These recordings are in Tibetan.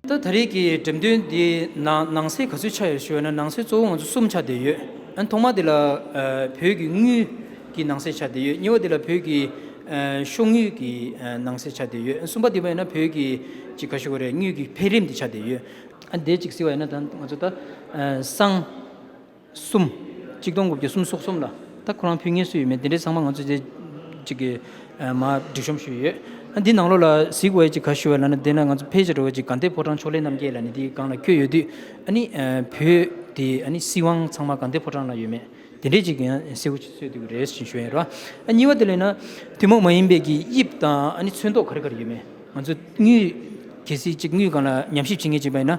ད་ད་རེས་ཀྱི་འགྲེམས་སྟོན་འདི་ནང་ནང་སའི་ག་ཚོད་ཆགས་ཡོད་ཞེས་བ་ན་ནང་སའི་གཙོ་བོ་ང་ཚོ་གསུམ་ཆགས་བསྡད་ཡོད་ཨ་ཐོག་མ་དེ་ལ་བོད་ཀྱི་དངུལ་གྱི་ནང་སའི་ཆགས་བསྡད་ཡོད་གཉིས་བ་དེ་ལ་བོད་ཀྱི་ཤོག་དངུལ་གྱི་ནང་སའི་ཆགས་བསྡད་ཡོད་གསུམ་པ་དེ་བས་ན་བོད་ཀྱི་ཅི་ག་ཞུ་བ་རེད་དངུལ་གྱི་འཕེལ་རིམ་དེ་ཆགས་བསྡད་ཡོད། ཨ་བསྡད་ཅིག་ཟེར་བ་ཡིན་ན་ད་ང་ཚོ་ད་སང། གསུམ། གཅིག་སྟོང་དགུ་བརྒྱ་གསུམ་སོགས་གསུམ་ལ་ད་ཁོ་རང་ཕུལ་ངེས་སུ་ཡོད་མེད་དེ་འདྲའི་ཚང་མ་ང་ཚོས་རྗེས་གཅིག་གི་མ་སྒྲིག་ཤོམ་ཞུས་ཡོད། འདི་ནང་ལོགས་ལ་གཟིགས་འོས་ཀྱི་ག་ཞུ་བ་ལ་ནི་དེ་ན་ང་ཚོ་ཕལ་ཆེར་འགྲོ་འོས་ཀྱི་གངས་ཏེ་ཕོ་བྲང་ཕྱོགས་ལས་རྣམ་རྒྱལ་ལ་ནི་དེའི་སྒང་ལ་བསྐྱོད་ཡོད་དུས་ཨ་ནི་བུ་དེ་ཨ་ནི་སྲིད་དབང་ཚང་མ་གངས་ཏེ་ཕོ་བྲང་ལ་ཡོད་མེད་དེ་འདྲའི་གཅིག་ཡང་གསལ་བོ་ཆོད་དུས་རེད་ཞེས་ཞུས་ཡོད་ར། གཉིས་བ་དེ་ལས་ན་ཐུན་མོང་མ་ཡིན་པའི་གི་དབྱིབས་དང་ཨ་ནི་ཚོན་མདོག་ག་རེ་ག་རེ་ཡོད་མེད་ང་ཚོས་དངུལ་གལ་སྲིད་ཅིག་དངུལ་སྒང་ལ་ཉམས་ཞིབ་བྱེད་ངེས་ཅིག་པ་ཡིན་ན།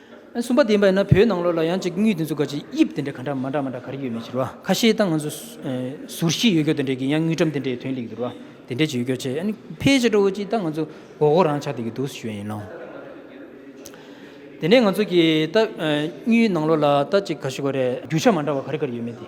གསུམ་པ་བདེན་པ་ཡིན་ན་བོད་ནང་ལོགས་ལ་ཡང་ཅིག་དངུལ་དེ་ཚོ་ག་ཅིག་དབྱིབས་དེ་འདྲ་ག་འདྲ་མ་འདྲ་མ་འདྲ་ག་རེ་ཡོད་མེད་ཅེས་རོ་ཁ་ཤེས་སྟངས་ང་ཚོ་ཟུར་ཞིག་ཡོད་སྐྱོ་དེ་འདྲས་ཀྱི་ཡང་དངུལ་ཁྲམ་དེ་འདྲས་དོན་ལེགས་འདུག་རོ་དེ་འདྲས་ཅིག་ཡོད་སྐྱོ་ཆེ་ཨ་ནི་ཕལ་ཆེ་ཁྲོ་བོ་ཅིག་ལྟ་ང་ཚོ་མགོ་སྐོར་རང་ཆགས་དེ་གི་འདུག་སུ་ཞོན་ཡིན་ནོ། དེ་ནས་ང་ཚོ་གི་ལྟ་དངུལ་ནང་ལོགས་ལ་ལྟ་ཅིག་ག་ཞུ་ག་རེ་རྒྱུ་ཆ་མ་འདྲ་བ་ག་རེ་ག་རེ་ཡོད་མེད་དེ།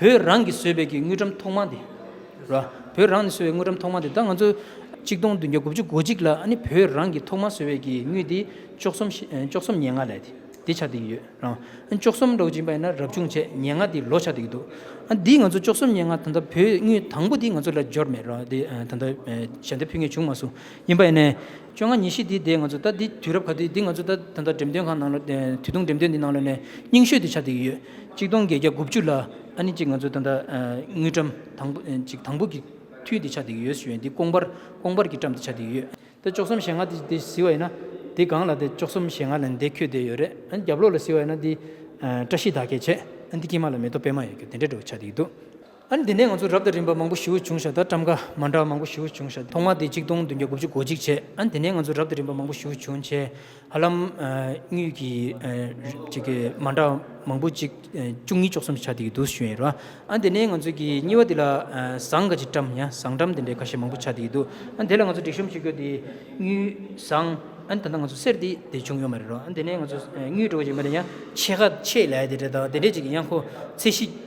བོད་རང་གིས་བཟོས་པའི་ཀྱི་དངུལ་འགྲམ་ཐོག་མ་དེ། ར། བོད་རང་ནས་བཟོས་བའི་དངུལ་འགྲམ་ཐོག་མ་དེ་ད་ང་ཚོ། གཅིག་སྟོང་བདུན་བརྒྱ་དགུ་བཅུ་གོ་གཅིག་ལ་ཨ་ནི་བོད་རང་གིས་ཐོག་མ་བཟོས་བའི་ཀྱི་དངུལ་དེ། བཅོ་གསུམ་ཤི་བཅོ་གསུམ་ཉེ་ལྔ་ལས་དེ་དེ་ཆགས་བསྡད་ཀྱི་ཡོད་རང། ཨ་ནི་བཅོ་གསུམ་རོགས་བྱིན་པ་ཡིན་ན་རབ་བྱུང་བྱས་ཉེ་ལྔ་དེ་ལོ་ཆགས་བསྡད་ཀྱི་འདུག་ཨ་འདིས་ང་ཚོ་བཅོ་གསུམ་ཉེ་ལྔ་ད་ལྟ་བོད་དངུལ་དང་པོ་དེ་ང་ཚོ་ལ་འབྱོར་མེད་རང་དེ་ད་ལྟ། ཞལ་འདེབས་ཕུལ་ངེས་བྱུང་མ་སོང་ཡིན་པ་ཡིན་ནས། བཅོ་ལྔ་ཉིན་ཞིག་དེའི་ཟླས་ང་ཚོ་ལྟ་འདི་དུས་རབས་ག་དུས་འདི་ང་ཚོ་ལྟ་ད་ལྟ་འགྲེམས་སྟོན་ཁང་ནང་ལོ། དུས་ཐུང་འགྲེམས་སྟོན་འདི་ནང་ལོ་ནས་རྙིང་ཤོས་དེ་ཆ་འདེགས་ཀྱི་ཡོད། གཅིག་སྟོང་བརྒྱད་བརྒྱ་དགུ་བཅུ་ལ་ཨ་ནི་གཅིག་ང་ཚོ་ད་ལྟ་དངུལ་བཀྲམ་དང་པོ་ཅིག་དང་པོ་གི་དུས་དེ་ཆ་འདེགས་ཀྱི་ཡོད་ཞུས་འདི་ཀོང་པར་ཀོང་པར་གྱིས་བཀྲམ་དེ་ཆ་འདེགས་ཀྱི་ཡོད། དེ་བཅོ་གསུམ་ཞེ་ལྔ་དེ་དེ་བཟི་བ་ཡིན་ན་དེ་སྒང་ལ་དེ་བཅོ་གསུམ་ཞེ་ལྔ་ལ་འདེ་ཁྱོད་དེ་ཡོད་རེད་ཨ་ནི་རྒྱབ་ལོག་ལ་བཟི་བ་ཡིན་ན་དེ་བཀྲ་ཤིས་ད་གས་བྱས་ཨ་ནི་དེ་ཁྱིམ་མ་ལ་མེ་ཏོག་པད་མ་ཡོད་ཁྱོད་དེ་འདྲ་འགྲོ་གི་ཆ་འདེགས་ཀྱི་འདུག། ཨ་ནི་དེ་ནས་ང་ཚོ་རབ་དང་རིམ་པ་མང་པོ་བཞི་བོ་བྱུང་ཤག་དང་བཀྲམ་ཁ་མ་འདྲ་བ་མང་པོ་བཞི་བོ་བྱུང་ཤག་ཐོག་མ་དེ་གཅིག་སྟོང་བདུན་བརྒྱ་དགུ་བཅུ་གོ་གཅིག་བྱས་ཨ་ནི་དེ་ནས་ང་ཚོ་རབ་དང་རིམ་པ་མང་པོ་བཞི་བོ་བྱུང་བྱས་ཧ་ལམ་དངུལ་གྱི་ཅིག་གི་མ་འདྲ་མང་པོ་གཅིག་བཅུ་གཉིས་བཅུ་གསུམ་ཆ་དེ་གི་འདུག་ཤོད་ཡིན་རུང་ཨ་ནི་དེ་ནས་ང་ཚོ་གི་གཉིས་པ་དེ་ལ་ཟངས་ཀ་ཅིག་བཀྲམ་ཡང་ཟངས་བཀྲམ་དེ་འདྲའི་ཁ་ཤས་མང་པོ་ཆ་དེ་གི་འདུག་ཨ་ནི་དེ་ལ་ང་ཚོ་སྒྲིག་གཤོམ་བྱེད་དགོས་དེ་དངུལ་ཟངས་ཨ་ནི་ད་ལྟ་ང་ཚོ་གསེར་དེ་དེ་བྱུང་ཡོད་མ་རེད་རུང་ཨ་ནི་དེ་ནས་ང་ཚོ་དངུལ་འགྲོ་གི་ཅིག་མ་རེད་ཡང་ཕྱེད་ཀ་ཕྱེད་ལས་དེ་འདྲས་དང་དེ་འདྲས་ཅིག་གི་ཡང་ཁོ་ཚད་གཞི།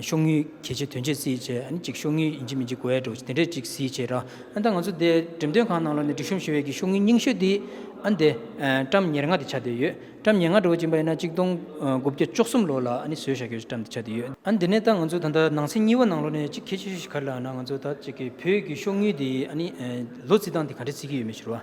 ཤོག་ངུས་གལ་ཆེ་དོན་ཆེ་བརྩིས་བྱས་ཨ་ནི་ཅིག་ཤོག་ངུས་ཡིན་གཅིག་མིན་གཅིག་གོ་ཨེ་འགྲོ་དེ་འདྲས་ཅིག་བརྩིས་བྱས་ར་ཨ་ད་ང་ཚོ་དེ་འགྲེམས་སྟོན་ཁང་ནང་ལ་ནས་སྒྲིག་གཤོམ་ཞུ་བའི་གི་ཤོག་ངུས་རྙིང་ཤོས་དེའི་ཨ་དེ་བཀྲམ་ཉེར་ལྔ་དེ་ཆ་དེ་ཡོད་བཀྲམ་ཉེར་ལྔ་འགྲོ་བ་ཅིག་པ་ཡིན་ན་གཅིག་སྟོང་དགུ་བརྒྱ་བཅུ་གསུམ་ལོ་ལ་ཨ་ནི་བཟོས་བཞག་གི་བཀྲམ་དེ་ཆ་དེ་ཡོད་ཨ་དེ་ནས་ད་ང་ཚོ་ད་ལྟ་ནང་ཚན་གཉིས་པ་ནང་ལོ་ནས་གཅིག་གལ་ཆེ་ཤོས་ཞིག་ག་རེ་ལགས་ན་ང་ཚོ་ད་ཅིག་གི་བོད་གི་ཤོག་ངུས་དེའི་ཨ་ནི་ལོ་བརྩི་སྟངས་དེ་ག་འདྲས་བརྩི་གི་ཡོད་མེད་ཕྱིར་རོ་ཨ།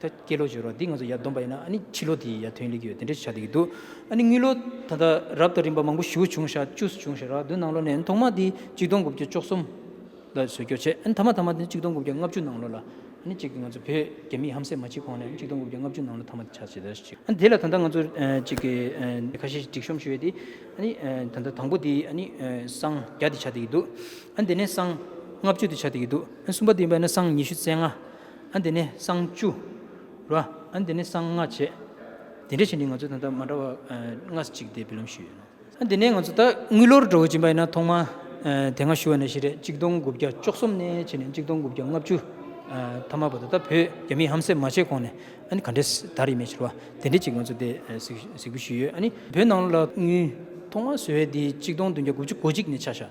ད་སྐྱེས་ལོ་བྱོས་རོགས་འདི་ང་ཚོ་ཡར་བསྡོམས་པ་ཡིན་ན་ཨ་ནི་ཕྱི་ལོ་དེ་ཡར་ཐོན་ལེ་གི་ཡོད་དེ་འདྲས་བྱ་དེ་གི་འདུག་ཨ་ནི་དངུལ་ལོ་ད་ལྟ་རབས་དང་རིམ་པ་མང་པོ་ཞུ་བྱུང་ཤག་བཅུ་བྱུང་ཤག་རག་དུས་ནང་ལོ་ནས་ཨ་ཐོག་མ་དེ་གཅིག་སྟོང་དགུ་བརྒྱ་བཅོ་གསུམ་ལ་བཟོས་སྐྱོར་བྱས་ཨ་ནི་ཐ་མ་ཐ་མ་དེ་གཅིག་སྟོང་དགུ་བརྒྱ་ལྔ་བཅུ་ནང་ལོ་ལ་ཨ་ནི་གཅིག་ང་ཚོ་བོད་རྒྱ་མི་ཧམ་སེམས་མ་བྱེད་གོང་ནས་གཅིག་སྟོང་དགུ་བརྒྱ་ལྔ་བཅུ་ནང་ལོ་ཐ་མ་དེ་བྱ་བྱེད་ད་ཅིག་ཨ་ནི་དེ་ལ་ད་ལྟ་ང་ཚོ་གཅིག་གི་ཁ་ཤས་ཤིག་སྒྲིག་གཤོམ་ཞུ་ཡོད་དེ་ཨ་ནི་ད་ལྟ་དང་པོ་དེ་ཨ་ནི་སྲང་བརྒྱ་དེ་བྱ་དེ་གི་འདུག་ཨ་ནི་དེ་ནས་སྲང་ལྔ་བཅུ་དེ་བྱ་དེ་གི་འདུག་ཨ་ནི་གསུམ་པ་དེ་ཡིན་པ་ན་སྲང་ཉི་ཤུ་རྩེ་ལྔ་ཨ་འདི་ནི་གསང་བཅུ། རོ། ཨ་འདི་ནི་གསང་སྔགས་བྱེད། དེ་འདྲ་ཞིག་ནི་ང་ཚོ་དང་ད་མ་འདྲ་བར་སྔ་ས་གཅིག་དེ་བི་ལོམ་ཞུས་ཡོད་ནོ། ཨ་འདི་ནི་ང་ཚོ་ད་དངུལ་ལོར་འགྲོ་འོས་ཀྱིན་པ་ཡིན་ན་ཐོག་མ་དེ་སྔ་ཞུ་བ་ནི་ཞེ་རེ་གཅིག་སྟོང་དགུ་བརྒྱ་བཅུ་གསུམ་ནས་ཕྱིན་ནས་གཅིག་སྟོང་དགུ་བརྒྱ་ལྔ་བཅུ་ཐ་མ་བར་དུ་ད་བོད་རྒྱ་མིས་ཧམ་སེམས་མ་བྱས་གོང་ནས་ཨ་ནི་ག་འདྲའི་དར་ཡིན་མིན་ཞེས་པ་དེ་འདྲའི་ཅིག་ང་ཚོ་དེ་གཟིགས་འབུལ་ཞུས་ཡོད་ཨ་ནི་བོད་ནང་ལ་དངུལ་ཐོག་མར་བཟོས་བའི་དེའི་གཅིག་སྟོང་བདུན་བརྒྱ་དགུ་བཅུ་གོ་གཅིག་ནས་ཆ་བཞག་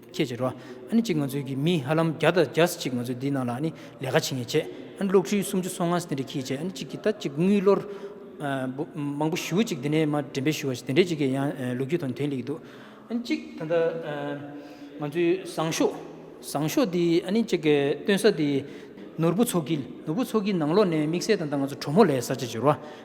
ཁྱེད་ཀྱི་རོ། ཨ་ནི་གཅིག་ང་ཚོའི་གི་མི་ཧ་ལམ་བརྒྱ་དང་བརྒྱ་སེ་གཅིག་ང་ཚོའི་འདི་ནང་ལ་ཨ་ནི་ལས་ཀ་བྱེད་ངེས་བྱེད། ཨ་ནི་གློག་ཁྲུའི་སུམ་ཅུ་སོ་ལྔ་སེ་དེ་འདྲ་ཁྱིས་བྱེད་ཨ་ནི་གཅིག་གི་ད་གཅིག་དངུལ་ལོར། མང་པོ་ཞུ་ཅིག་དེ་ནས་མ་འདྲེན་པས་ཞུ་བ་ཞིག་དེ་འདྲས་ཅིག་གི་ཡང་ལོ་རྒྱུས་དང་དོན་ལེགས་འདུག་ཨ་ནི་གཅིག་ད་ལྟ་ང་ཚོའི་བཟང་ཤོག། བཟང་ཤོག་འདི་ཨ་ནི་གཅིག་སྟོན་ས་འདི། ནོར་བུ་མཚོ་དཀྱིལ་ནོར་བུ་མཚོ་དཀྱིལ་ནང་ལོགས་ནས་དམིགས་བསལ་ད་ལྟ་ང་ཚོ་གྲོ་མོ་ལས་ས་ཆ་གྱི་རོ།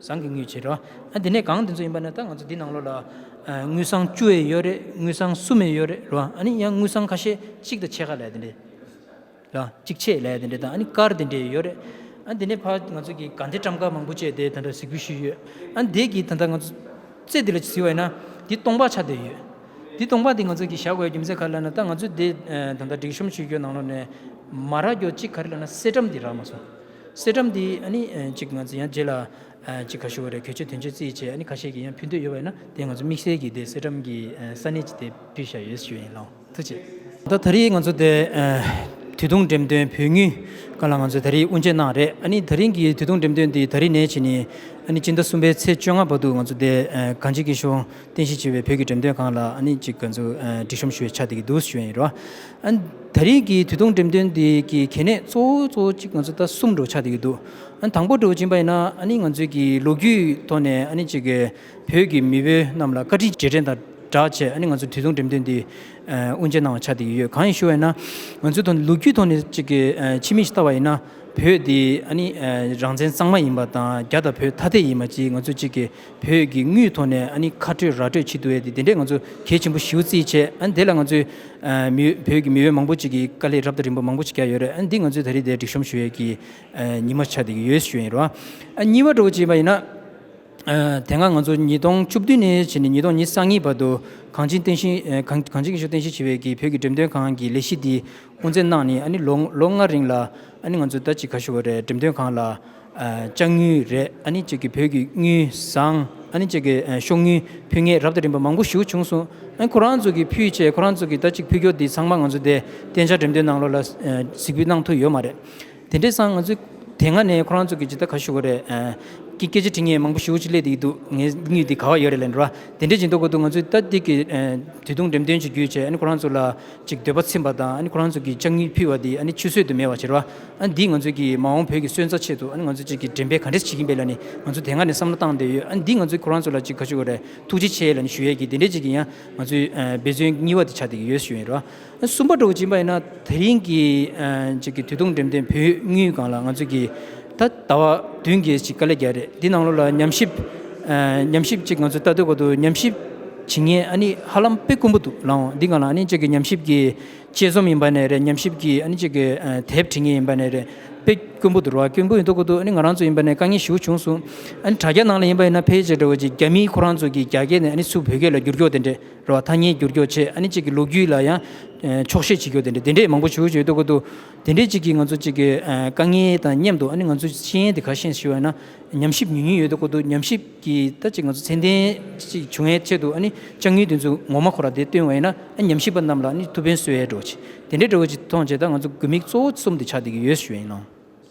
བཟང་གི་དངུལ་བྱེད་རོ། འདི་ནས་གང་འདི་ཚོ་ཡིན་པ་ནི་ད་ང་ཚོ་འདི་ནང་ལོགས་ལ། དངུལ་སྲང་བཅུ་ཡས་ཡོད་རེད་དངུལ་སྲང་གསུམ་ཡས་ཡོད་རེད་རོ། ཨ་ནི་ཡང་དངུལ་སྲང་ཁ་ཤས་གཅིག་དང་ཕྱེད་ཀ་ལས་དེ་འདྲས། རོ། གཅིག་ཕྱེད་ལས་དེ་འདྲས་དང་ཨ་ནི་དཀར་དེ་འདྲས་ཡོད་རེད། ཨ་འདི་ནས་ཕར་ང་ཚོ་གི་དགའ་འདེད་བཀྲམ་ཁ་མང་པོ་བཅས་དེ་ད་དྲ་གཟིགས་པོ་ཞུས་ཡོད། ཨ་འདས་ཀྱི་ད་ད་ང་ཚོ། རྩེ་འདི་ལ་གཟིགས་བས་ན། འདི་སྟོང་པ་ཆ་དེ་ཡོད། འདི་སྟོང་པ་འདི་ང་ཚོ་གི་བཞག་དགོས་རྒྱུ་མཚན་ག་རེ་ལ་ན་ད་ང་ཚོ་འདི་ད་ད་སྒྲིག་གཤོམ་ཞུས་ཀྱོ་ནང་ལོགས་ནས། མ་རག་གྱོ་གཅིག་ག་རེ་ལ་ན་གསེར་སྒྲམ་འདི་རག་མ་སོང། གསེར་སྒྲོམ་འདི་གཅིག་ང་ཚོ་ཡང་རྗེས་ལ་ཅིག་ག་ཞུ་བ་རེད་གལ་ཆེ་དོན་ཆེ་རྩིས་བྱས་ཁ་ཤས་ཀྱི་ཡང་ཕུལ་འདོད་ཡོད་པ་ཡིན་ན་དེ་ང་ཚོ་དམིགས་བསལ་གྱི་དེ་གསེར་སྒྲོམ་གྱི་ས་གནས་ཀྱི་དེ་ཕུལ་བཞག་ཡོད་ཞུ་ཡིན་ལོ་ཐུགས་ཆེ། ད་ད་རིང་ང་ཚོ་དེ་དུས་ཐུང་འགྲེམས་སྟོན་བོད་ཉུལ་སྐབས་ལ་ང་ཚོ་ད་རིང་དབུ་འབྱེད་གནང་བ་རེད་ད་རིང་གི་དུས་ཐུང་འགྲེམས་སྟོན་འདི་ད་རིང་ནས་བྱས་ནས་སྤྱི་ཟླ་གསུམ་པའི་ཚེས་བཅོ་ལྔ་བར་དུ་ང་ཚོ་དེ་གངས་སྐྱིད་ཀྱི་གཞུང་རྟེན་གཞི་བྱས་པའི་བོད་ཀྱི་འགྲེམས་སྟོན་ཁང་ལ་ཨ་ནི་ཅིག་ག་ཚོད་སྒྲིག་ཤོམ་ཞུ་བའི་ཆ་དེ་གི་འདུག་ཞུ་ཡས་རོ། ད་རེས་ཀྱི་དུས་ཐུང་འགྲེམས་སྟོན་དེ་གི་གལ་གནད་གཙོ་བོ་གཙོ་བོ་གཅིག་ང་ཚོ་ད་གསུམ་འགྲོ་ཆ་དེ་གི་འདུག་དང་པོ་འགྲོ་བ་ཇི་འབའ་ཡིན་ན་ཨ་ནི་ང་ཚོས་ཀྱི་ལོ་རྒྱུས་ཐོག་ནས་ཨ་ནི་ཅིག་གི་བོད་ཀྱི་མི་བུ་རྣམས་ལ་བཀའ་དྲིན་རྗེས་དྲན་དང་སྦྲགས་ཆེད་ཨ་ནི་ང་ཚོ་དུས་ཐུང་འགྲེམས་སྟོན་དེ་དབུ་འབྱེད་གནང་བ་ཆ་དེ་གི་ཡོད་གང་ཡིན་ཞུ་བ་ཡིན་ན་ང་ཚོའི་ཐོག་ནས་ལོ་རྒྱུས་ཐོག་ནས་ཅིག་གི་ཕྱི་མིག་ཅིག་ལྟ་བ་ཡིན་ན་བོད་དེ་ཨ་ནི་རང་བཙན་གཙང་མ་ཡིན་པ་དང་རྒྱ་དང་བོད་ཐ་དད་ཡིན་པ་ཅིག་ང་ཚོས་ཅིག་གི་བོད་ཀྱི་དངུལ་ཐོག་ནས་ཨ་ནི་ཁ་སྤྲོད་ར་སྤྲོད་བྱེད་འདུག་ཨ་དེ་འདྲས་ང་ཚོ་གལ་ཆེན་པོ་ཞིའུ་རྩིས་བྱས་ཨ་ནི་དེ་ལ་ང་ཚོའི་མི་བོད་ཀྱི་མི་འོས་མང་པོ་ཅིག་གིས་དཀའ་ལས་རབ་དང་རིམ་པ་མང་པོ་ཅིག་རྒྱག་ཡོད་རེད་ཨ་ནི་འདི་ང་ཚོས་ད་རེས་དེ་སྒྲིག་གཤོམ་ཞུ་ཡས་ཀྱི་ཉི་མ་ཆ་དེ་གི་ཡོས་ཞུ་ཡས་ཡིན་རོ་ཨ་གཉིས་བ་འགྲོ་བ་ཅིག་ཡིན་པ་ཡིན་ན་དེ་སྔ་ང་ཚོ་ཉིས་སྟོང་བཅུ་བདུན་ནས་ཕྱི་ནས་ཉིས་སྟོང་ཉིས་གསང་གཉིས་བར་དུ་གངས་ཅན་བསྟན་བཞིན་གངས་ཅན་གྱི་ཆུ་བསྟན་བཞིན་བྱེད་པའི་གི་བོད་ཀྱི་འགྲེམས་སྟོན་ཁང་གི་ལས་གཞི་འདི་དབུ་མཛད་གནང་ནས་ཨ་ནི་ལོ་ལྔ་རིང་ལ་ཨ་ནི་ང་ཚོ་ད་ཅི་ག་ཞུ་བ་རེད་འགྲེམས་སྟོན་ཁང་ལ་ལྕགས་དངུལ་རེད་ཨ་ནི་ཅིག་གི་བོད་ཀྱི་དངུལ་བཟང་ཨ་ནི་ཅིག་གི་ཤོག་དངུལ་ཕུལ་ངེས་རབ་དང་རིམ་པ་མང་པོ་ཞུ་བྱུང་སོང་ཨ་ཁོ་རང་ཚོ་གི་ཕུལ་བྱས་ཁོ་རང་ཚོ་གི་ད་ཅིག་ཕུལ་སྐྱོར་འདི་ཚང་མ་ང་ཚོ་དེ་བསྟན་བྱ་འགྲེམས་སྟོན་ནང་ལོགས་ལ་གཟིགས་འབུལ་གནང་ཐུབ་ཡོད་མ་རེད། དེ་འདྲས་སང་ང་ཚོས་དེ་སྔ་ནས་ཁོ་རང་ཚོ་གི་ཇི་ལྟར་ག་ཞུ་གི་རེད། ཀྱི་སྐད་ཆ་དྲི་ངས་མང་པོ་ཞུ་ཅི་སླད་དེ་ཡི་འདུག་ངའི་སྙུས་དེ་ག་བ་ཡོད་རེད་ལན་འགྲོ་ཨ། དེ་འདྲས་ཇི་འདོད་གོ་འདུག་ང་ཚོས་ལྟ་འདི་གི་དུས་ཐུང་འགྲེམས་སྟོན་བྱེད་རྒྱུའི་ཆེད་ཨ་ནི་ཁོ་རང་ཚོ་ལ་ཅིག་འདོད་པ་ཚིམ་པ་དང་ཨ་ནི་ཁོ་རང་ཚོ་གི་ལྕགས་སྙུས་ཕུལ་བ་དེ་ཨ་ནི་ཆུད་ཟོས་དུ་མེད་བ་བྱེད་རོགས་ཨ། ཨ་འདིས་ང་ཚོའི་གི་མ་འོངས་བོད་ཀྱི་སོན་རྩ་ཆེད་དུ་ཨ་ནི་ང་ཚོ་ཅིག་གི་འགྲེམས་སྤེལ་ག་འདྲས་བྱེད་ཀྱིན་པའི་ལ་ནི་ང་ཚོ་དེ་སྔ་ནས་བསམ་བློ་བཏང་བསྡད་ཡོད་ཨ་འདིས་ང་ཚོས་ཁོ་རང་ཚོ་ལ་ཅིག་ག་ཞུ་གི་རེད་ཐུགས་རྗེ་ཆེ་ལ་ནི་ཞུ་ཡས་གི་དེ་འདྲས་ཅིག་གི་ཡང་ང་ཚོའི་འབད་བརྩོན་སྙི་བ་དེ་བྱ་དེ་གི་ཡོད་ཞུ་ཡས་རོགས་ཨ། གསུམ་པ་གྲོགས་སྦྱིན་པ་ཡིན་ན་དེ་རིང་གི་གཅིག་གི་དུས་ཐུང་འགྲེམས་སྟོན་བོད་དངུལ་སྒང་ལ་ང་ཚོས་ཀྱི་ད་ཟླ་བ་བདུན་གྱི་གཅིག་དཀའ་ལས་བརྒྱ་རེད་འདི་ནང་ལོ་ལ་ཉམས་ཞིབ་ཉམས་ཞིབ་གཅིག་ང་ཚོས་ལྟ་འདོད་པ་འདུག་ཉམས་ཞིབ་བྱེད་ངེས་ཨ་ནི་ཧ་ལམ་དཔེ་དཀོན་པོ་འདུག་ལའང་འདི་གང་ལ་ཨ་ནི་གཅིག་གི་ཉམས་ཞིབ་ཀྱི་དཔྱད་རྩོམ་ཡིན་པ་ནས་རེད་ཉམས་ཞིབ་ཀྱི་ཨ་ནི་གཅིག་གི་དེབ་བྲི་ངེས་ཡིན་པ་ནས་རེད་དཔེ་དཀོན་པོ་འདུག་ར་དཀོན་པོ་ཡིན་འདོད་པ་འདུག་ཨ་ནི་ང་རང་ཚོ་ཡིན་པ་ནས་དཀའ་ངལ་ཞི་བོ་བྱུང་སོང་ཨ་ནི་དྲ་རྒྱ་ནང་ལ་ཡིན་པ་ཡིན་ན་ཕལ་ཆེར་དྲ་བ་གཅིག་རྒྱ་མིའི་ཁོ་རང་ཚོ་གྱི་རྒྱ་སྐད་ནས་ཨ་ནི་སུ་བོད་སྐད་ལ་བསྒྱུར་འགྱོག་དེ་འདྲས། རེད་བ། ཐ་སྙད་བསྒྱུར་འགྱོག་ཆེད་ཨ་ནི་གཅིག་གི་ལོ་རྒྱུས་ལ་ཡང་འཁྱོག་བཤད་བྱེད་འགྱོག་དེ་འདྲའི་དེ་འདྲས་མང་པོ་བྱེད་འོས་ཆོས་ཡོད་འདུག་གོ་དུ་དེ་འདྲས་གཅིག་གིས་ང་ཚོ་གཅིག་གི་དཀའ་ངལ་དང་མཉམ་དུ་ཨ་ནི་ང་ཚོའི་ཤེས་ཡན་དེ་ག་ཤེས་ཞེས་བ་ན་ཉམས་ཞིབ་ཉུས་ཉུས་ཡོད་འདུག་གོ་དུ་ཉམས་ཞིབ་ཀྱི་ད་གཅིག་ང་ཚོ་ཚན་ལྡན་གཅིག་བྱུང་ཡན་ཆེད་དུ་ཨ་ནི་ལྕགས་ཉུལ་དེ་ཚོ་ངོ་མ་ཁོ་ར་དེ་སྟོན་བ་ཡིན་ན་ཨ་ནི་ཉམས་ཞིབ་པ་རྣམས་ལ་ཨ་ནི་ཐུགས་ཕན་གསོས་ཡས་འགྲོ་བ་ཆེ་དེ་འདྲས་འགྲོ་བ་ཆེ་མཐོང་བྱེད་ད་ང་ཚོ་དགོས་དམིགས་གཙོ་བོ་གསུམ་དེ་ཆགས་འདི་གི་ཡོད་ཞུ་ཡིན་ནོ།